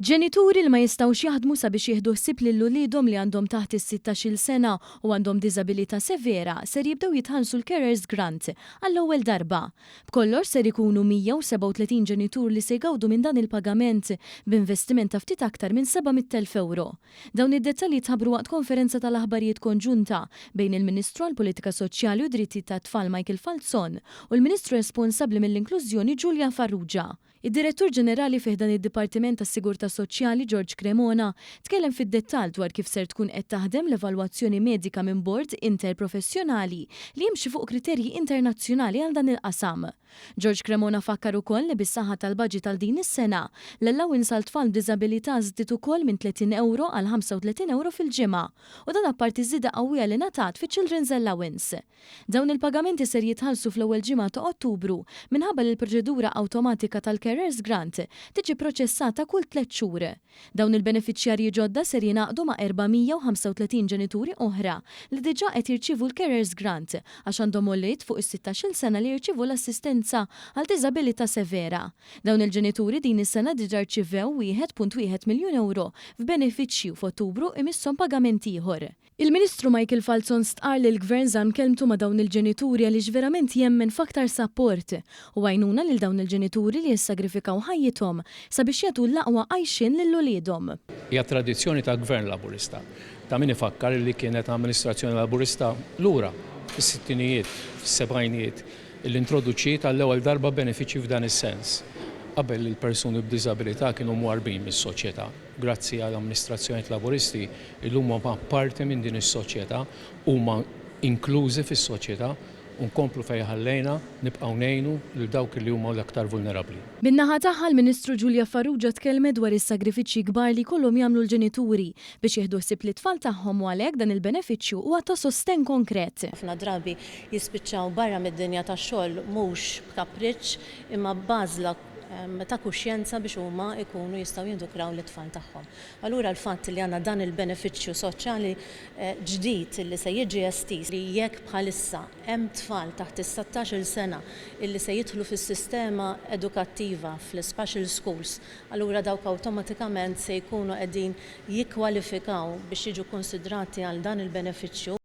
Ġenituri li ma jistgħux jaħdmu sabiex jieħdu ħsieb lil uliedhom li għandhom taħt is-sittax-il sena u għandhom diżabilità severa ser jibdew jitħallsu l-Carers Grant għall-ewwel darba. B'kollox ser ikunu 137 ġenitur li se jgawdu minn dan il-pagament b'investiment ta' ftit aktar minn 700 elf ewro. Dawn id-dettalji tħabbru waqt konferenza tal-aħbarijiet konġunta bejn il-Ministru għall-Politika Soċjali u d-Drittijiet tat-Tfal Michael Falzon u l-Ministru responsabbli mill-Inklużjoni Julia Farrugia. Id-Direttur Ġenerali fi ħdan id-Dipartiment tas-Sigurtà Soċjali George Cremona tkellem fid-dettall dwar kif ser tkun qed taħdem l-evalwazzjoni medika minn bord interprofessjonali li jimxi fuq kriterji internazzjonali għal dan il-qasam. George Cremona fakkar ukoll li bis-saħħa tal-baġit għal din is-sena, l-allowance għal tfal b'diżabilità żdiet ukoll minn 30 ewro għal 35 ewro fil-ġimgħa u dan apparti ż-żieda qawwija li ngħatat fiċ-Children's Allowance. Dawn il-pagamenti ser jitħallsu fl-ewwel ġimgħa ta' Ottubru minħabba li l-proċedura awtomatika tal-Carers Grant tiġi proċessata kull tliet xhur. Dawn il-benefiċjarji ġodda ser jingħaqdu ma' 435 ġenituri oħra li diġà qed jirċievu l-Carers Grant għax għandhom ulied fuq is-sittax-il sena li jirċievu l-assistenza għal diżabilità severa. Dawn il-ġenituri din is-sena diġà rċivew 1.1 miljun ewro f'benefiċċji u f'Ottubru jmisshom pagament ieħor. Il-Ministru Michael Falzon stqarr li l-Gvern żamm kelmtu ma' dawn il-ġenituri għaliex verament jemmen f'aktar sapport u għajnuna lil dawn il-ġenituri li jissagrifikaw ħajjithom sabiex jagħtu l-aqwa għajxien lil uliedhom. Hija tradizzjoni ta' Gvern Laburista, ta' min ifakkar li kienet amministrazzjoni Laburista lura fis-sittinijiet, fis-sebgħinijiet li introduċiet għall-ewwel darba benefiċċji f'dan is-sens, qabel li l-persuni b'diżabilità kienu mwarrbin mis-soċjetà. Grazzi għal amministrazzjonijiet Laburisti, illum huma parti minn din is-soċjetà, huma inklużi fis-soċjetà u nkomplu fejn ħallejna, nibqgħu ngħinu lil dawk li huma l-aktar vulnerabbli. Min-naħa tagħha, l-Ministru Julia Farrugia tkellmet dwar is-sagrifiċċji kbar li jkollhom jagħmlu l-ġenituri biex jieħdu ħsieb lit-tfal tagħhom u għalhekk dan il-benefiċċju huwa ta' sostenn konkret. Ħafna drabi jispiċċaw barra mid-dinja tax-xogħol mhux b'kapriċċ imma b'għażla ta' kuxjenza biex huma jkunu jistgħu jindukraw lit-tfal tagħhom. Allura l-fatt li għandna dan il-benefiċċju soċjali ġdid li se jiġi estiż li jekk bħalissa hemm tfal taħt is-settax-il sena li se jidħlu fis-sistema edukattiva fl-ispecial schools allura dawk awtomatikament se jkunu qegħdin jikkwalifikaw biex jiġu kkunsidrati għal dan il-benefiċċju.